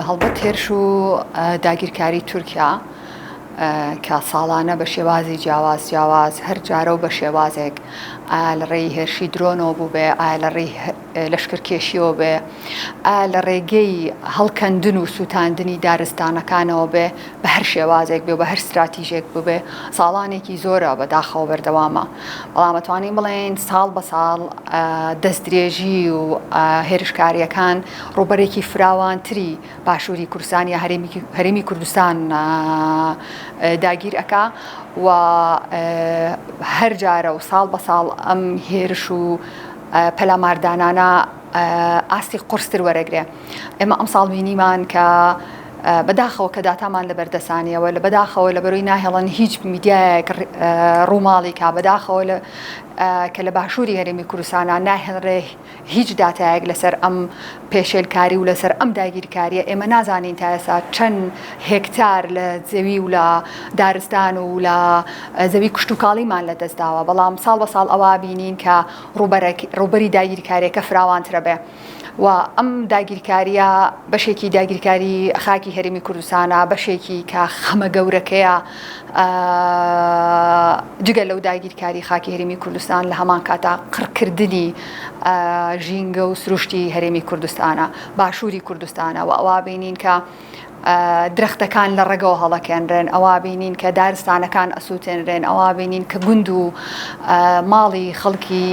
هەڵبەت هێرش و داگیرکاری تورکیا کە ساڵانە بە شێوازی جیاواز جیاواز هەر جارە و بە شێوازێک ئا لە ڕێی هێرشی درۆنەوە بوو بێ ئا لە ڕێی لەشکرکێشیەوە بێ ئا لە ڕێگەی هەڵکەندن و سووتاندنی دارستانەکانەوە بێ بە هەر شێوازێک بێ بە هەر ستراتیژێک ببێ ساڵانێکی زۆرە بە داخەوە بەردەوامە بەڵامەتوانین بڵێن ساڵ بە ساڵ دەست درێژی و هێرشکاریەکان ڕووبەرێکی فراوانتری باشووری کوردستان یا هەرێمی کوردستان داگیر ئەکا و هەر جارە و ساڵ بە ساڵ ئەم هێرش و پەلاماردانانە ئاستی قرستر وەرەگرێ ئێمە ئەم ساڵ بینیمان کە بەداخەوە کە داتامان لە بەردەسانیەوە لە بەداخەوە لە بەرۆی ناهێڵن هیچ میدیایەک ڕووماڵی کا بەداخەوە کە لە باشووری هەرێمی کوردستانە ناهێڵرێ هیچ داتایەک لەسەر ئەم پێشێلکاری و لەسەر ئەم داگیرکاریە ئێمە نازانین تا ئێسا چەند هێکتار لە زەوی و لە دارستان و لە زەوی کشتتوکاڵیمان لە دەستداوە بەڵام ساڵ بە ساڵ ئەوە بینین کە ڕوبەری داگیرکاریەکە فراوانترە بێ و ئەم داگیرکاریە بەشێکی داگیرکاری خاکی هەرمی کوردستانە بەشێکی کە خەمە گەورەکەیە جگە لەو داگیرکاری خاکی هەرێمی کوردستان لە هەمان کاتا قڕکردنی ژینگە و سروشتی هەرێمی کوردستانە باشووری کوردستانە و ئەوا بینین کە درەختەکان لە ڕێگەەوە هەڵەکێنرێن ئەوا بینین کە دارستانەکان ئەسووتێنرێن ئەوا بینین کە گوند و ماڵی خەڵکی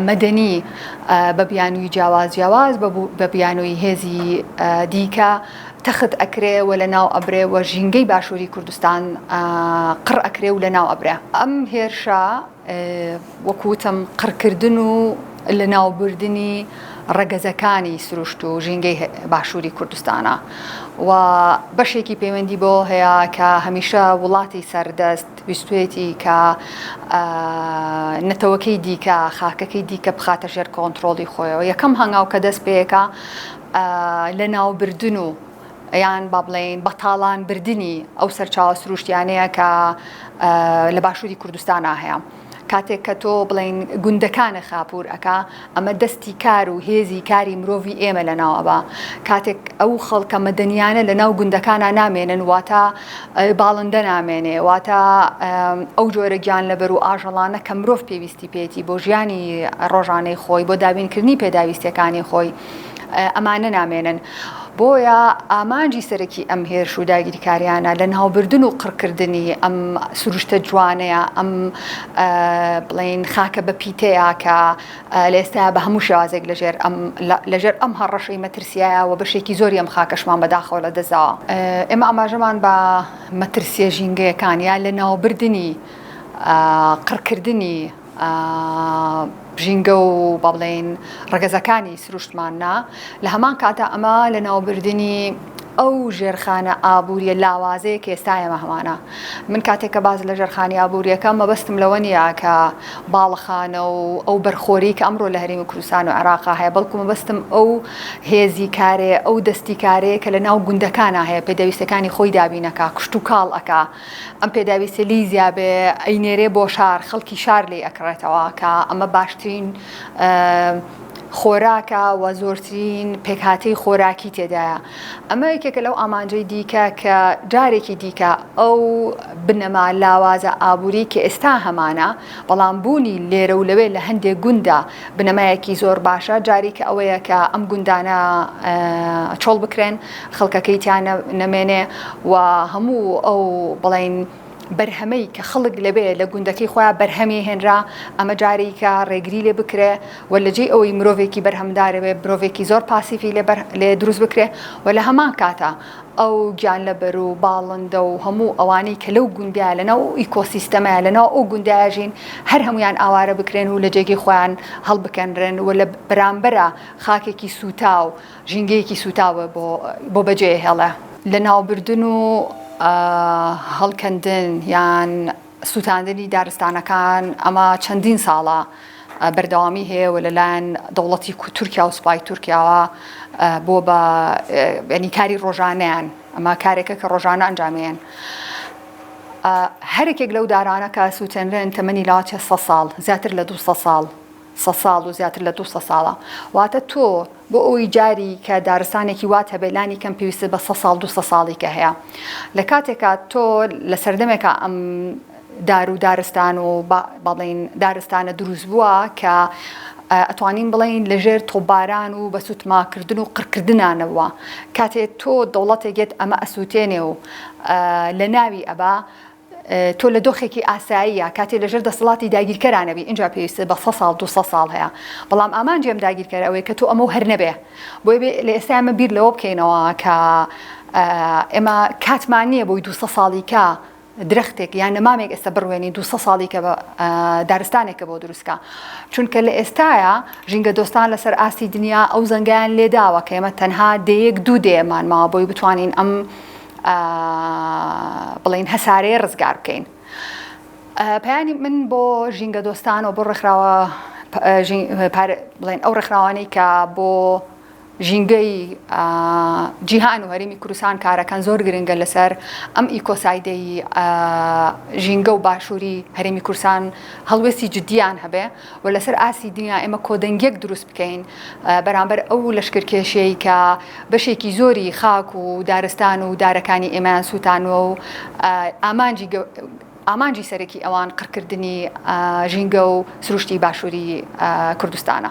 مەدەنی بە بیانووی جیاواز جیاواز بە بیانووی هێزی دیکە تەخت ئەکرێ و لەناو ئەبرێ و ژینگەی باشووری کوردستان قڕ ئەکرێ و لەناو ئەبرێ. ئەم هێرشە وەکو وتم قڕکردن و لەناوبردنی ڕەگەزەکانی سروشت و ژینگەی باشووری کوردستانە و بەشێکی پەیوەندی بەوە هەیە کە هەمیشە وڵاتی سەردەست ویستوێتی کە نەتەوەکەی دیکە خاکەکەی دیکە بخاتە ژێر کۆنترۆڵی خۆیەوە یەکەم هەنگاو کە دەست پێیەکە لەناوبردن و یان با بڵێین بەتاڵان بردنی ئەو سەرچاوە سروشتیانەیە کە لە باشووری کوردستان هەیە. کاتێک کە تۆ بڵین گوندەکانە خاپور ئەک ئەمە دەستی کار و هێزی کاری مرۆڤی ئێمە لە ناوەبا کاتێک ئەو خەڵکە مەدەنیانە لە ناو گوندەکانە نامێنن واتە باڵندە نامێنێ واتە ئەو جۆرە گیان لەبەر و ئاژەڵانە کە مرۆڤ پێویستی پێێتی بۆ ژیانی ڕۆژانەی خۆی بۆ دابینکردنی پێداویستەکانی خۆی ئەمانە نامێنن. بۆیە ئامانجی سەرەکی ئەم هێرش و داگیرکاریانە لە ناوبردن و قڕکردنی ئەم سروشتە جوانەیە ئەم بڵین خاکە بە پیتەیە کە لە ئێستا بە هەموو شێوازێک لەژێر ئەم لەژێر ئەم هەڕەشەی مەترسیایە و بەشێکی زۆری ئەم خاکەشمان بەداخەوە لە دەزاوە ئێمە ئاماژەمان بە مەترسیە ژینگەیەکان یا لە ناوبردنی قڕکردنی ژینگە و با بڵێین ڕەگەزەکانی سروشتماننا لە هەمان کاتە ئەمە لە ناوبردنی ئەو ژێرخانە ئابووریە لاوازەیە کە ئێستاەمە هەمانە من کاتێک کە باز لە ژێرخانی ئابووریەکە مەبەستم لەوە نییە کە باڵەخانە و ئەو بەرخۆری کە ئەمڕۆ لە هەرمی کوردستان و عراقا هەیە بەڵکو مەبەستم ئەو هێزی کارێ ئەو دەستی کارەیە کە لە ناو گوندەکانە هەیە پێدەویستەکانی خۆی دابینەکە کشت و کاڵ ئەک ئەم پێداویستیە لێی زیابێ ئەینێرێ بۆ شار خەڵکی شار لێی ئەکڕێتەوە کە ئەمە باشترین خۆراکە و زۆرترین پێکهاتەی خۆراکی تێدایە ئەمە یەکێکە لەو ئامانجەی دیکە کە جارێکی دیکە ئەو بنەما لاوازە ئابووری کە ئێستا هەمانە بەڵام بوونی لێرە و لەوێ لە هەندێک گونددا بنەمایەکی زۆر باشە، جاری کە ئەوەیە کە ئەم گوندانە چۆڵ بکرێن، خەڵکەکەی تیا نەمێنێ و هەموو ئەو بڵێین بەرهەمەی کە خەڵک لەوێ لە گوندەکەی خۆیان بەرهەمی هێنرا، ئەمە جاری کە ڕێگری لێ بکرێ و لە جێی ئەوەی مرۆڤێکی بەرهەمدارەێ مرۆڤێکی زۆر پاسیڤی لێ دروست بکرێ و لە هەمان کاتە. ئەو گیانلەبەر و باڵندە و هەموو ئەوانەی کە لەو گوندەیە لەناو ئەو ئیکۆسیستەمەیە لەناو ئەو گوندەیە ژین هەر هەموویان ئاوارە بکرێن و لە جێگەی خۆیان هەڵبکەنرێن و لە بەرامبەرا خاکێکی سووتاو ژینگەیەکی سووتاو بۆ بەجێ هێڵێ لەناوبردن و هەڵکەندن یان سوتاندنی دارستانەکان ئەمە چەندین ساڵە بەردەوامی هەیە و لەلایەن دەوڵەتی تورکیا و سوپای تورکیاوە بۆ بە ینی کاری ڕۆژانیان ئەمە کارێکە کە ڕۆژانە ئەنجامێن. هەرێکێک لەو دارانە کە سووتێنرێن تەمەنی لاچە سە ساڵ زیاتر لە دو ساڵ سە ساڵ و زیاتر لە دوو سە ساڵە. واتە تۆ بۆ ئەوەی جاری کە دارستانێکی وات هەبێت لانی کەم پێویستت بە سە ساڵ دوو سە ساڵی کە هەیە. لە کاتێکا تۆ لە سەردەمێکا ئەم دار و دارستان و با بڵێین دارستانە دروست بووە کە ئەتوانین بڵێین لە ژێر تۆپباران و بە سوتماکردن و قڕکردنانەوە کاتێ تۆ دەوڵەتێک یەت ئەمە ئەسووتێنێ و لە ناوی ئەبا تۆ لە دۆخێکی ئاساییە کاتێ لەژێر دەسەڵاتی داگیرکەرانەبی ئینجا پێویستت بە سە ساڵ دوو سە ساڵ هەیە بەڵام ئامانجی ئەم داگیرکەرە ئەوەیە کە تۆ ئەمە و هەر نەبێ بۆیە بێ لە ئێستا ئێمە بیر لەوە بکەینەوە کە ئێمە کاتمان نییە بۆی دوو سە ساڵی کە درەختێک یان نەمامێک ئێستا بڕوێنی دو ساڵی کە دارستانێکە بۆ دروستکە چونکە لە ئێستاە ژینگە دۆستان لەسەر ئاستی دنیا ئەو زەنگیان لێداوە کە ئێمە تەنها دەیەک دوو دێمان ماوە بۆی بتوانین ئەم بڵێن هەسارەیە ڕزگار بکەین. پەیانی من بۆ ژینگە دۆستان و بۆ ڕێکخراوە بڵێن ئەو ڕێکخراوانەی کە بۆ ژینگەی جیهان و هەرمی کوردستان کارەکان زۆر گرنگە لەسەر ئەم ئیکۆسایدەی ژینگە و باشووری هەرمی کورسان هەڵوێستی جددیان هەبێ و لەسەر ئاستی دنیا ئێمە کۆدەنگیەک دروست بکەین بەرامبەر ئەو لەشکرکێشیەی کە بەشێکی زۆری خاک و دارستان و دارەکانی ئێمەیان سووتانوە و ئامانجی ئامانجی سەرەکی ئەوان قڕکردنی ژینگە و سروشتی باشووری کوردستانە.